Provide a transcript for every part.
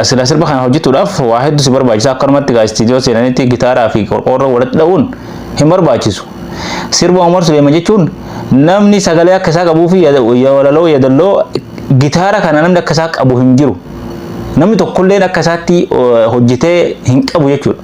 Silaa sirba kana hojjetuudhaaf waa hedduu si barbaachisa akkanumatti gaa istiidiyoo seenanitti gitaaraa fi qorqoorroo walitti dha'uun hin barbaachisu. Sirba Umar Suleeman jechuun namni sagalee akka isaa qabuu fi walaloo yadalloo gitaara kana namni akka isaa qabu hin jiru. Namni tokkolleen akka isaatti hojjetee hin qabu jechuudha.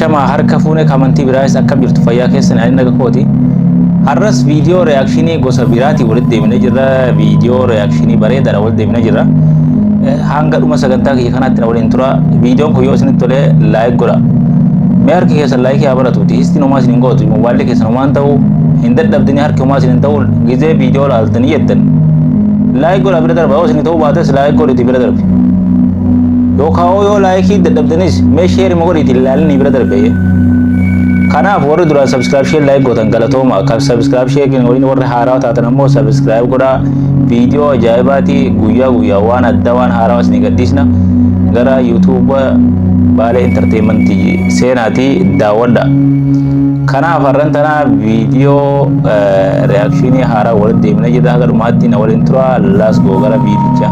Shama harka fuune kamantii biraayis akkam jirtu fayyaa keessan ani naga kooti. Har'as viidiyoo reaakshinii gosa biraatiin walitti deebinee jirra. Viidiyoo reaakshinii bareedaadha walitti deebinee jirra. Eh, Hanga dhuma sagantaa kiyya kanaatti na waliin tura. Viidiyoon kun yoo isinitti tole laayik godha. Mee harki keessan laayikii haa baratu. Dihistiin homaa isin hin gootu. Mobaayilli keessan homaa hin ta'u. Hin dadhabdinii harki homaa isin hin ta'u. Gizee viidiyoo laaltanii jettan. Laayik godha bira darba. Yoo isin ta'uu baates laayik godhiti bira darbi. Yookaa'oo yoo laayikii dadhabdanis mee sheer ima godhiiti ilaalinii bira darbee. Kanaaf warri duraan sabiskiraayib sheer laayik gootan galatooma kan sabiskiraayib sheer kan waliin warri haarawaa taatan ammoo sabiskiraayib godhaa viidiyoo ajaa'ibaati guyyaa guyyaa waan addaa waan haarawaa isin gadhiisna gara yuutuuba baalee intarteementii seenaati daawwadha. Kanaaf har'an tana viidiyoo reaakshinii haaraa walitti deemnee jirra haga dhumaatti na waliin tura laas goo gara viidichaa.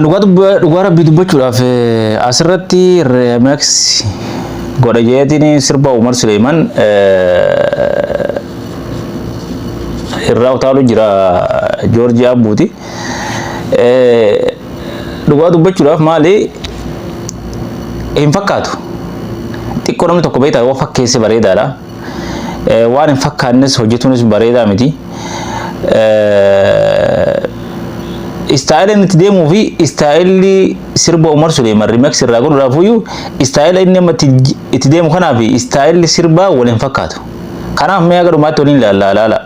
Dhugaa dubba- dhugaa rabbii dubbachuudhaaf eh, asirratti remix godha jeetiin sirba Umar Suleiman eh, irraa utaalu jira Joorji Abbuuti. Eh, dhugaa dubbachuudhaaf maali hin fakkaatu. Xiqqoo namni tokko beektaa yoo fakkeesse bareedaadha. Eh, Waan hin fakkaannes hojjetuunis bareedaa miti. Eh, Istaayila inni itti deemuu fi istaayilli sirba Umar Suleeman remix irraa godhuudhaaf iyyuu istaayila inni amma itti itti deemu kanaa fi istaayilli sirbaa wal hin fakkaatu. Kanaaf mee haga dhumaatti waliin ilaalla ilaala.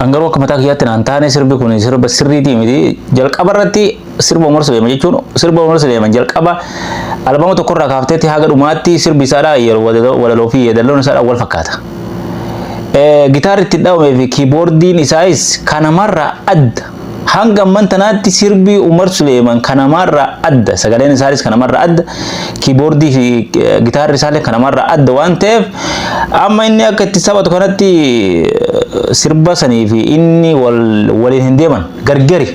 An garuu akka mataa kiyyaatti naan taane sirbi kun sirba sirriitii miti. Jalqaba irratti sirba Umar Suleeman jechuun sirba Umar Suleeman jalqaba albama tokkorraa kaafteetti haga dhumaatti sirbi isaadha yeroo walaloo fi yeedalloon isaadha wal fakkaata. Gitaarri itti dhawamee fi kiiboordiin isaayis kanamarraa adda. Hanga amman tanaatti sirbi Umar Suleeman kanamaarraa adda sagaleen isaanis kanamaarraa adda kiiboordii fi gitaarri isaallee kanamaarraa adda waan ta'eef amma inni akka itti sabatu kanatti sirba sanii fi inni waliin hin deeman gargari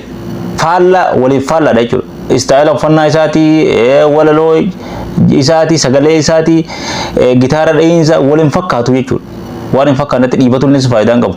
faallaa waliif faallaadha jechuudha. Istaayila uffannaa isaatii walaloo isaatii sagalee isaatii gitaara dha'iinsa waliin fakkaatu jechuudha. Waan hin fakkaannetti dhiibatuunis faayidaa hin qabu.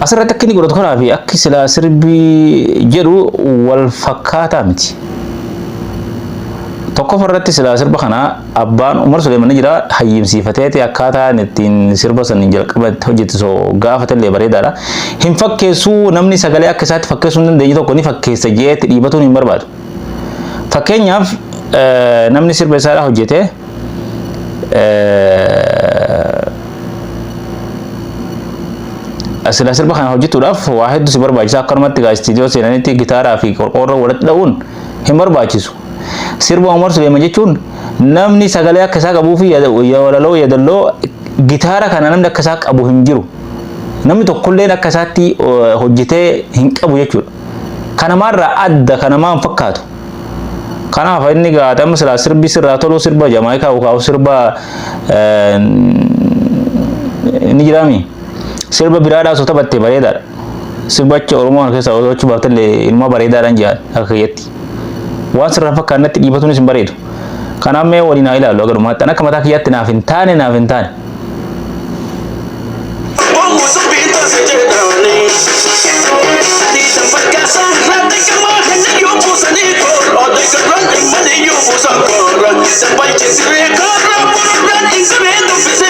Asirratti akka inni godhatu kanaa fi akka silaa sirbii jedhu wal fakkaataa miti. Tokkofa irratti silaa sirba kanaa Abbaan Umar Suleeman ni jira hayyimsiifateeti akkaataa inni ittiin sirba saniin jalqaba itti hojjette soo gaafate illee bareedaadha. Hin fakkeessu namni sagalee akka isaatti fakkeessuu hin dandeenye tokko ni fakkeessa jedhee itti dhiibatuun hin barbaadu. Fakkeenyaaf eh, namni sirba isaadhaa hojjete eh, sila sirba kana hojjetuudhaaf waa hedduu si barbaachisa akkanumatti gaa istiidiyoo seenanitti gitaaraa fi qorqoorroo walitti dha'uun hin barbaachisu. Sirba Umar Suleeman jechuun namni sagalee akka isaa qabuu fi walaloo yadalloo gitaara kana namni akka isaa qabu hin jiru. Namni tokkolleen akka isaatti hojjetee hin qabu jechuudha. Kana maarraa adda kana maan fakkaatu. Kanaaf inni gaata amma silaa sirbi sirraa toluu sirba Jamaayikaa yookaan sirba inni jiraami. Sirba biraadhaa osoo taphatte bareedaadha. sirbacha Oromoo kana keessaa osoo achi baaftellee inuma bareedaadhaan jedhan akka kiyyatti. Waan sirraa fakkaan natti dhiibatuunis hin bareedu. Kanaaf mee waliin haa ilaallu akka dhumaatti. An akka mataa kiyyaatti naaf hin taane naaf hin taane.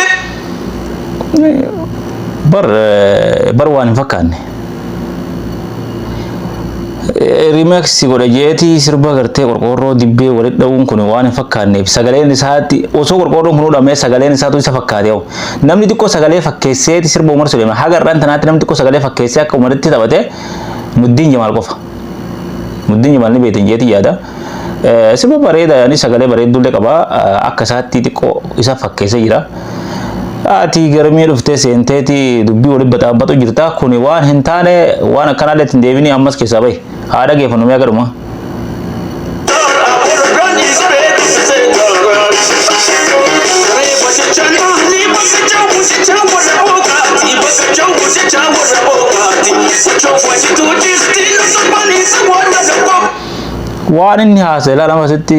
Thank you. bar eh, bar waan hin fakkaanne Eh, remix godha jeetii sirba gartee qorqoorroo dibbee walitti dha'uun kun waan hin fakkaanneef sagaleen isaatti osoo qorqoorroon kun hudhamee sagaleen isaatu isa fakkaate hoo namni xiqqoo sagalee fakkeesseeti sirba umar suleeman haga irraan tanaatti namni xiqqoo sagalee fakkeessee akka umaritti taphate muddiin jamaal qofa muddiin jamaal ni beektan jeetii yaada Sirba bareeda yaani sagalee bareedduullee qaba akka isaatti xiqqoo isa fakkeessee jira. Ati garmii dhuftee seenteeti dubbii waliin baxaabaxu jirta kun waan hin taane waan akkanaallee ittiin deebinii ammas keessaa bahi haa dhageeffannu mee agaruma. Thank you. waan inni haasa'e ilaa nama asitti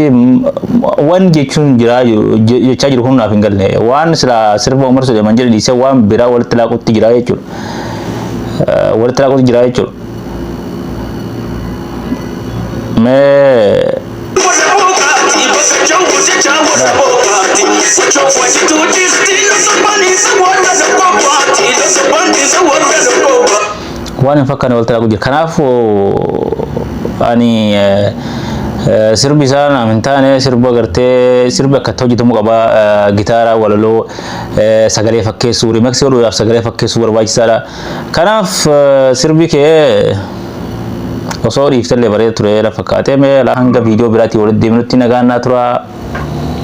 waan jechuun jiraa jiru jechaa jiru kun naaf hin galle waan sila sirba Umar Suleeman jedhe dhiisee waan biraa walitti laaquutti jiraa jechuudha. Walitti laaquutti jiraa jechuudha. Mee Thank you. waan hin fakkaanne walitti laaquu jira. Kanaaf ani sirbi isaa naaf hin taane sirba gartee sirbi akka itti hojjetamuu qaba gitaaraa walaloo sagalee fakkeessuu rimeksii godhuudhaaf sagalee fakkeessuu barbaachisaadha. Kanaaf sirbi kee osoo dhiiftallee bareeda ture na fakkaatee mee hanga viidiyoo biraatii walitti deebinutti nagaan naa turaa.